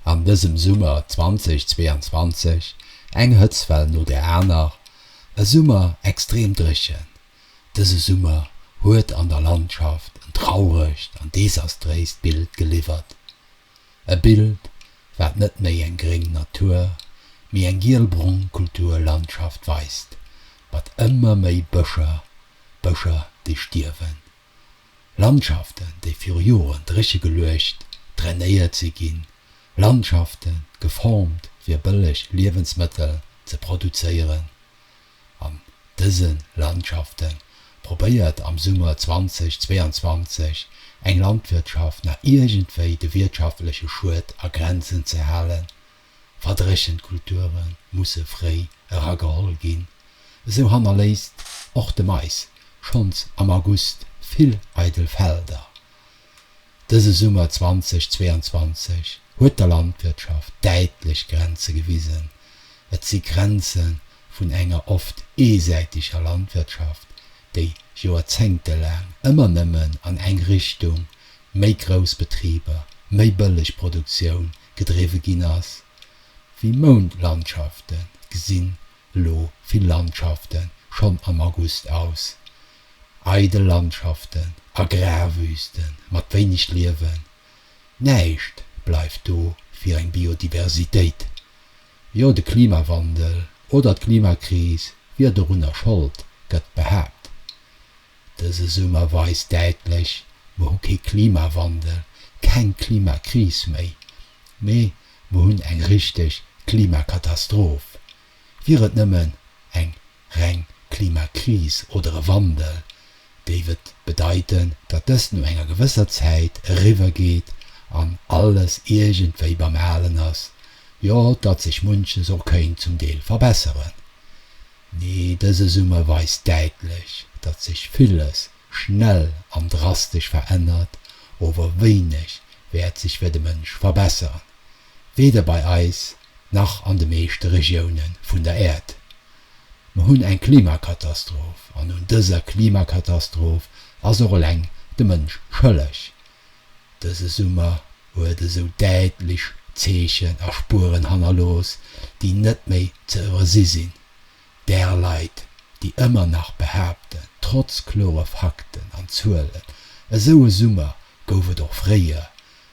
an dësem Summer 2022 eng Hëtztwell no der aner, e Summer extrem dréchen. Dëse Summer huet an der Landschaft en trauregt an desastréist Bild geliwwert. E Bild, wat net méi eng gréng Natur, mee eng giel-brong Kulturlandschaft weist, mat ëmmer méi Bëscher, Bëscher déi stierwen. Landschaften, déi viru Joren dréche geluecht, drainéiert si ginn, Landschaften, geformt fir bëlleg Liewensmëttel ze produzéieren. An dëse Landschafte probéiert am Summer 2022 eng Landwirtschaft nach iergendwéi de wirtschaftleche Schued a Grenzen ze halen, Verdréchent Kulture musse fréi erageholl ginn. Esou hannerléisst och de Mais schonns am August vill eidel Felder. Dëse Summer 2022 huet der Landwirtschaft däitlech Grenze gewisen. Et si Grenze vun enger oft eesäiteger Landwirtschaft, déi joerzéngtelaang ëmmer nëmmen an eng Richtung, méi grouss Betriber, méi bëlleg Produktioun, gedriwwe ginn ass, wéi Moundlandschaften, gesinn elo vill Landschaften schonn am August aus, eidel Landschaften, Agrarwüsten mat wéineg Liewen, näischt bleift do fir eng Biodiversitéit. Jo, de Klimawandel oder d'Klimakris wier dorunner Schold, gëtt behaapt. Dëse Summer weist däitlech, Mer hu kee Klimawandel, keng Klimakris méi, mee mer hunn eng richteg Klimakatastroph. Wier et nëmmen eng reng Klimakris oder e Wandel, géif et bedeiten, datt dëst no enger gewësser Zäit eriwwer geet an alles iergendwéi beim Alen ass, jo, datt sech munches och kéint zum Deel verbesseren. Nee, dëse Summer weist däitlech, datt sech villes schnell an drastesch verännert, ower wéineg wäert sech fir de Mënsch verbessern, weder bei eis nach an de meeschte Regioune vun der Äerd. Mer hunn eng Klimakatastroph, an un dëser Klimakatastroph ass och eleng de Mënsch schëlleg. Dëse Summer huet esou däitlech Zeechen a Spueren hannerlooss, déi net méi ze iwwersi sinn, där Leit, déi ëmmer nach behaapten, trotz klore Fakten an Zuelen, esou e Summer gouf et och fréier,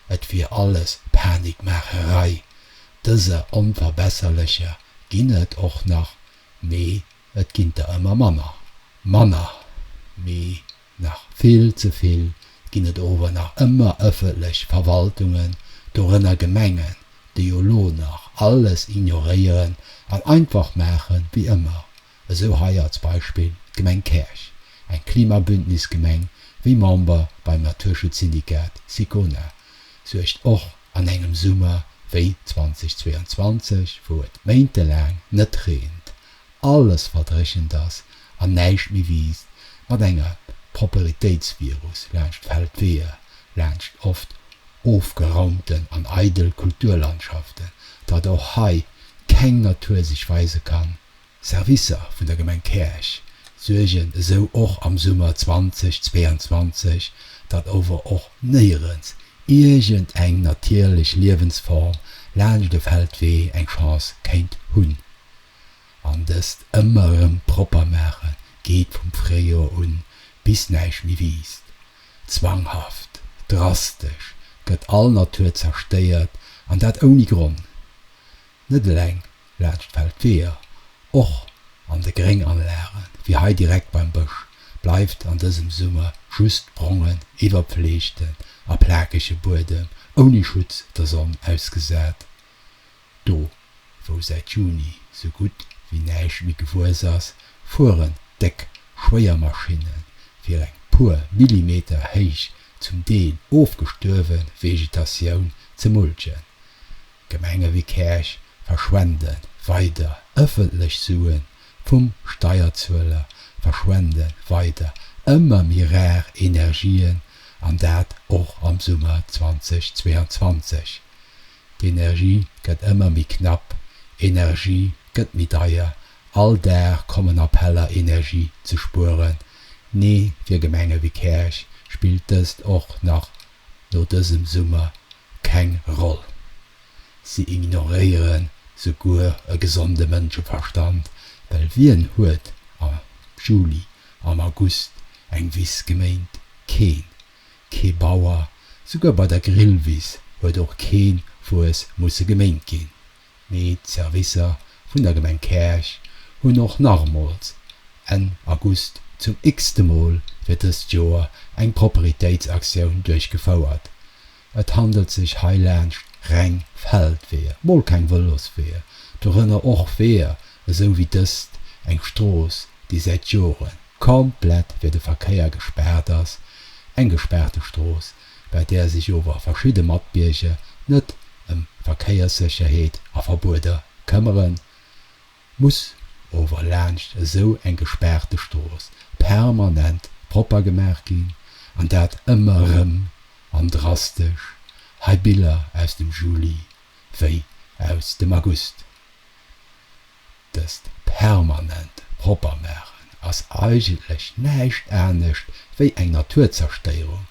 et wier alles Panikmaacherei. Dëser Onverbesserlecher ginn et och nach, mee et ginn der ëmmer manner. Manner, mee Nach vill ze vill ginn et ower nach ëmmer ëffentlech Verwaltungen, dorënner Gemengen, déi jo lo nach alles ignoréieren an einfach maache wéi ëmmer, esou hei als Beispill d'Gemeng Käerch, eng Klimabündnis-Gemeng, wéi Member beim Naturschutz-Syndikat Sicona, suergt och an engem Summer wéi 2022, wou et méintelaang net reent, alles verdréchent ass an näischt méi wiisst, mat enger Properitéitsvirus laanscht Feldweeër, laanscht oft ofgeraumten an eidel Kulturlandschaften, datt och hei keng Natur sech weise kann. Servicer vun der Gemeng Käerch suergen esou och am Summer 2022, datt ower och néierens iergend eng natierlech Liewensform laanscht e Feldwee eng Chance kéint hunn. An dëst ëmmer erëm propper maache geet vum Fréijor un, bis näischt méi wiisst. Zwanghaft, drastesch gëtt all Natur zerstéiert, an dat ouni Gronn. Net eleng laanscht Feldweeër, och an de Grénganlage wéi hei direkt beim Bësch bleift an dësem Summer just brongen, iwwerpfleegten a plakege Buedem ouni Schutz der Sonn ausgesat. Do wou säit Juni sou gutt wéi näischt méi gewuess ass, fueren déck Schwéiermaschinne fir eng puer Millimeter héich, zum Deel ofgestuerwe Vegetatioun ze mulchen. Gemenge wéi Käerch verschwende weider ëffentlech Suen vum Steierzueler, verschwende weider ëmmer méi rar Energien, an dat och am Summer 2022. D'Energie gëtt ëmmer méi knapp, Energie gëtt méi deier, all Dag kommen Appeller Energie ze spueren. Nee, fir Gemenge wéi Käerch spillt dëst och nach no dësem Summer keng Roll. Si ignoréiere souguer e gesonde Mënscheverstand, well wien huet am Juli, am August eng Wiss geméint? Keen. Kee Bauer, souguer bei der Grillwiss, huet och keen Wues musse geméint ginn. Mee d'Servicer vun der Gemeng Käerch hunn och nachmools, Enn August, zum x-te Mol fir dëst Joer eng Properitéitsaktioun duerchgefouert. Et handelt sech heilaanscht reng Feldweeër, mol keng Vëlosweeër, dorënner och Weeër, esou wéi dëst eng Strooss, déi säit Jore komplett fir de Verkéier gespaart ass, eng gespaarte Strooss, bei där sech ower verschidde Matbierger net ëm Verkéierssécherheet a Verbueder këmmeren, muss ower laanscht esou eng gespaarte Strooss permanent propper gemaach ginn, an dat ëmmer erëm an drastesch, hei Biller aus dem Juli wéi aus dem August. Dëst permanent propper maachen ass eigentlech näischt anescht wéi eng Naturzerstëierung,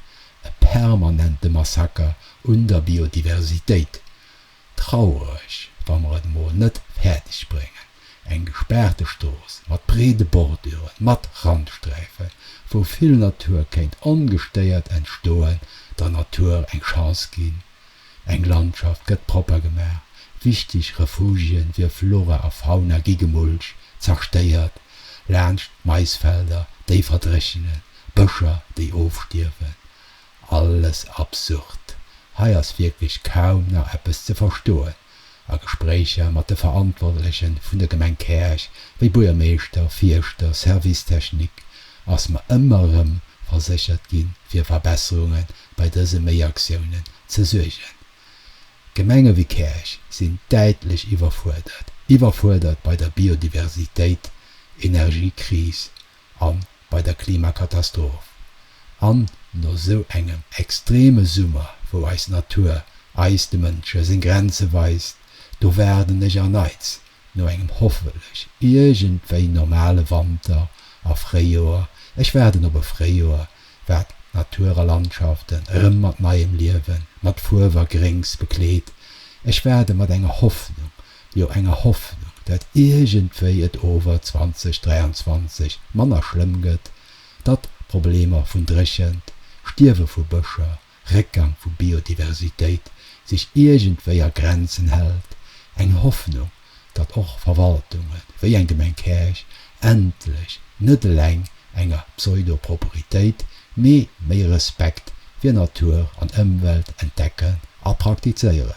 e permanente Massaker un der Biodiversitéit. Traureg, wa mer et mol net fäerdeg bréngen, eng gespaarte Strooss mat breede Borduren, mat Randsträifen, wou vill Natur kéint ongestéiert entstoen, der Natur eng Chance ginn, Eng Landschaft gëtt propper gemaach, wichteg Refugien fir Flora a Fauna gi gemulcht, zerstéiert, laanscht Maisfelder, déi verdréchenen, Bëscher, déi ofstierwen. Alles absurd. Hei ass wierklech kaum nach eppes ze verstoen. A Gespréicher mat de Verantwortleche vun der Gemeng Käerch, wéi Buergermeeschter, Fierschter, Service technique, ass mer ëmmer erëm verséchert ginn, fir Verbesserunge bei dëse Méiaktiounen ze suergen. Gemenge wéi Käerch sinn däitlech iwwerfuerdert, iwwerfuerdert bei der Biodiversitéit, Energiekris, a bei der Klimakatastroph, an no esou engem extreme Summer, wou eis Natur eis, de Mënsche, seng Grenze weist, do waarden ech erneits no engem hoffentlech iergendwéi normale Wanter a Fréijoer, ech waarden op e Fréijoer, wat d'Natur a Landschaften erëm mat neiem Liewen, mat Fuerw a Gréngs bekleet, ech waarde mat enger Hoffnung, jo enger Hoffnung, dat iergendwéi et ower 2023 manner schlëmm gëtt, datt d'Problemer vun Dréchent, Stierwe vu Bëscher, Réckgang vu Biodiversitéit sech iergendwéi a Grenzen hält, eng Hoffnung, datt och Verwaltunge wéi eng Gemeng Käerch endlech net eleng enger Pseudo-Properitéit, mee méi Respekt fir Natur an Ëmwelt entdecken a praktizéieren.